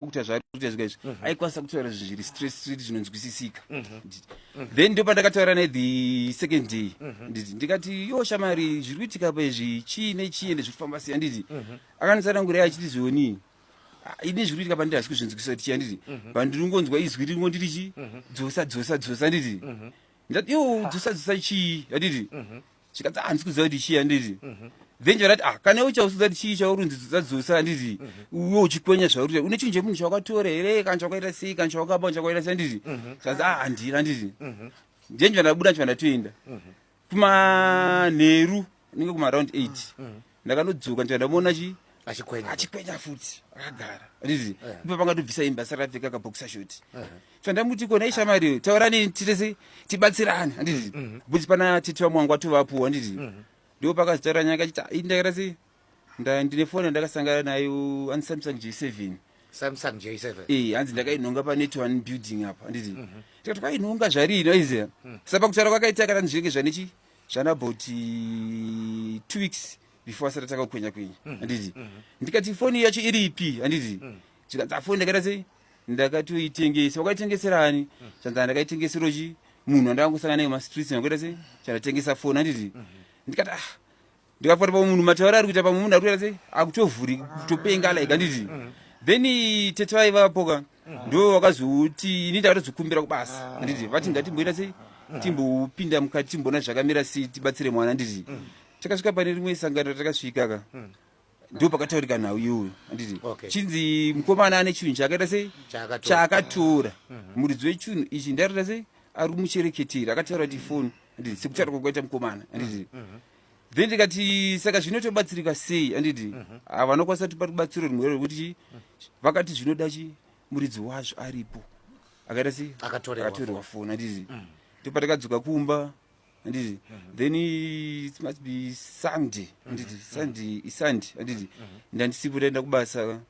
kuita zvaari kuita zvika izvi mhm. aikwanisa kutaura zvinhu zviri straight straight zvinonzwisisika mhm. then ndo pandakataura naye the second day mhm. nditi ndikati yo shamari zviri kuitika pa izvi chii nechii ende zviri kufamba sei anditi akandisanangurei achiti zvionii ah, ini zviri kuitika pandiri hasi kuzvinzwisisa kuti chii anditi pandiri kungonzwa izwi ringo ndiri chii dzosa dzosa dzosa anditi ndati yo dzosa dzosa chii anditi zvikanzi ah, handisi kuziva kuti chii handiti mhm. then chivati ah kana iwe chausiza kuti chii chaurunzi dzadzosa handiti mhm. uwe uchikwenya zvauri une chinhu chemunhu chawakatora here kana chawakaita sei kana chawakaba chawakaita sei handiti zvikanzi ah handiri handiti then chivati ndabuda chivati ndatoenda kumanheru unenge kumaround eight mm -hmm. ndakanodzoka ndichibva ndamuona chi achikwenya achikwenya futi akagara rizi eh. ndipo pangatobvisa imba asati apfeka kaboxer shot eh. so ndamuti kona ishamari taurani titese tibatsirane anditi mhm. buti pana titi vamwangu atovapuwa anditi mhm. ndipo pakazitaura nyaya kachiti ii ndakaita sei ndine foni yandakasangana nayo ani samsung j seven samsung j seven ee eh, hanzi ndakainhonga panet one building apa anditi mhm. tikati kwainhonga zvarii noize sapa kutaura kwakaita kana zvinenge zvanechi zvana about uh, two weeks before asati atanga kukwenya kwenya mm-hmm. anditi mm-hmm. ndikati foni yacho iri ipi handiti mm. zvikanzi afoni ndakaita sei ndakatoitengesa wakaitengeserani mm. zvanzi ndakaitengesero chi munhu andakangosangana naye mumastreets ndakaita sei chandatengesa foni handiti mm-hmm. ndikati ah ndikafuata pamwe munhu mataura ari kuita pamwe munhu ari kuita sei akutovhuri kutopenga like handiti then tete vaivapoka ndo vakazoti ini ndakatozokumbira kubasa ah. handiti vati ngatimboita sei timbopinda mukati timboona zvakamira sei tibatsire mwana handiti takasvika pane rimwe sangano takasvikaka ndo pakataurika nhau iyoyo anditi chinzi mukomana ane chunhu chaakaita sei chaakatora mhm. muridzi wechunhu ichi ndairita sei ari kumuchereketeri akataura ti foni anditi sekutaura kwakaita mukomana anditi mhm. mhm. then ndikati saka zvino tobatsirika sei anditi ah, vanokwanisa tipa rubatsiro rimwe rekuti vakati zvinoda chi muridzi wazvo aripo akaita sei akatorerwa foni anditi ndopatakadzoka kumba anditi then it must be sunday anditi sunday isunday anditi ndandisipo taenda kubasa ka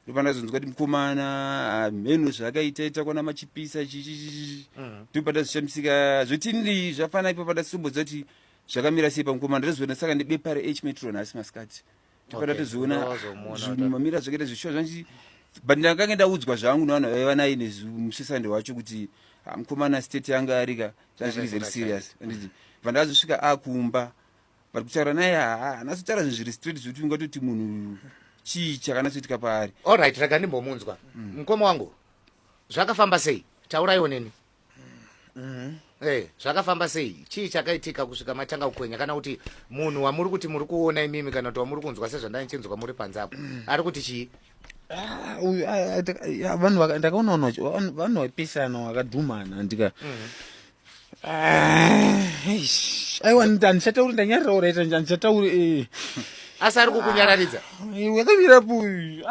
ndopa ndazonzwa kuti mukomana hamheno ah, zvaakaita ita kwana machipisa chichichichi ndopa ndazvishamisika zvotinii zvafana ipo pandasitomboziva kuti zvakamira sei pamukomana ndozoona saka nebepa rehmetron asi masikati tikaenda Okay, tizoona ndo wazomuona zvinhu wada. mamira zvakaita zvishuwa zvanzi but ndakange ndaudzwa zvangu nevanhu vaiva naye nemusesande wacho kuti "Ah, mukomana state yanga arika zvazviri very serious anditi vandazosvika akumba but kutaura naye haa anazotaura zvinhu zviri straight zvekuti ungatoti munhu chii chakanatsoitika paari allright rega ndimbomunzwa mukoma wangu zvakafamba sei tauraiwo neni Mm-hmm. Hey, eh, zvakafamba sei chii chakaitika kusvika matanga kukwenya kana kuti munhu wamuri kuti muri kuona imimi kana kuti wamuri kunzwa sezvandanichinzwa muri panze apo mm. ari kuti chii ah, ah, ah, vanhu ndakaona vanhu vaipisana vakadhumana ndika mm-hmm. aiwa handichatauri ndanyarira oraita handichatauri eh. asi ari kukunyararidza wakamira puyu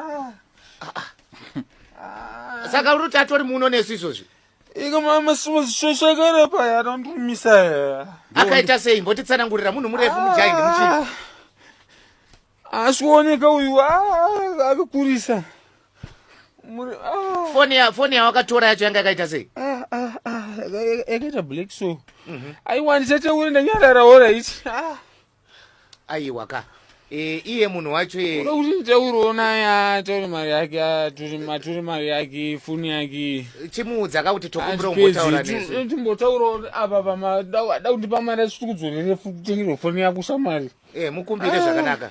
saka uri kuti atori muno nesu izvozvi Iko mama simushakara paya anondimisa here? Akaita sei? Mbotitsanangurira munhu murefu mujahi nemuchii? Ah. Asikuoneka uyu ah, akakurisa. Ah. Foni ya foni yawakatora yacho yanga yakaita sei? Ah ah ah yakaita black so. Mhm. Aiwa ndisataure ndanyarara ora ichi. Ah. aiwa ka e, iye munhu wacho ye unoda kuti nditauriwo naye ataure mari yake atore mari yake foni yake chimuudza ka kuti tokumbira umbotaura nesu timbotaurawo apa pamada kundipa mari asitikudzorere futi kutengerwa foni yako shamwari e, mukumbire zvakanaka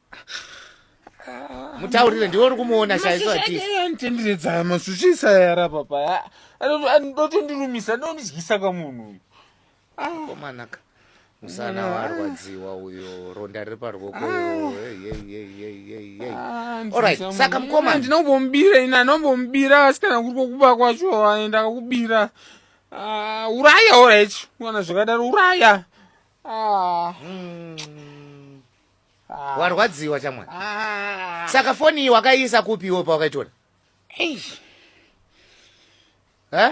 mutaurire ndiwe uri kumuona shaiso atitendiredzaya masushisa yara papa ndotondirumisa ndondidyisa ka munhu uyu komanaka musana warwadziwa uyo ronda riri parwoko saka mukoma ndinombomubira ini anombomubira asi kana kuri kokuba kwacho aenda kakubira ah, uraya orit kana zvakadaro uraya ah. hmm. ah. warwadziwa chamwana ah. saka foni iyi wakaiisa kupiwo pawakaitora eish ah.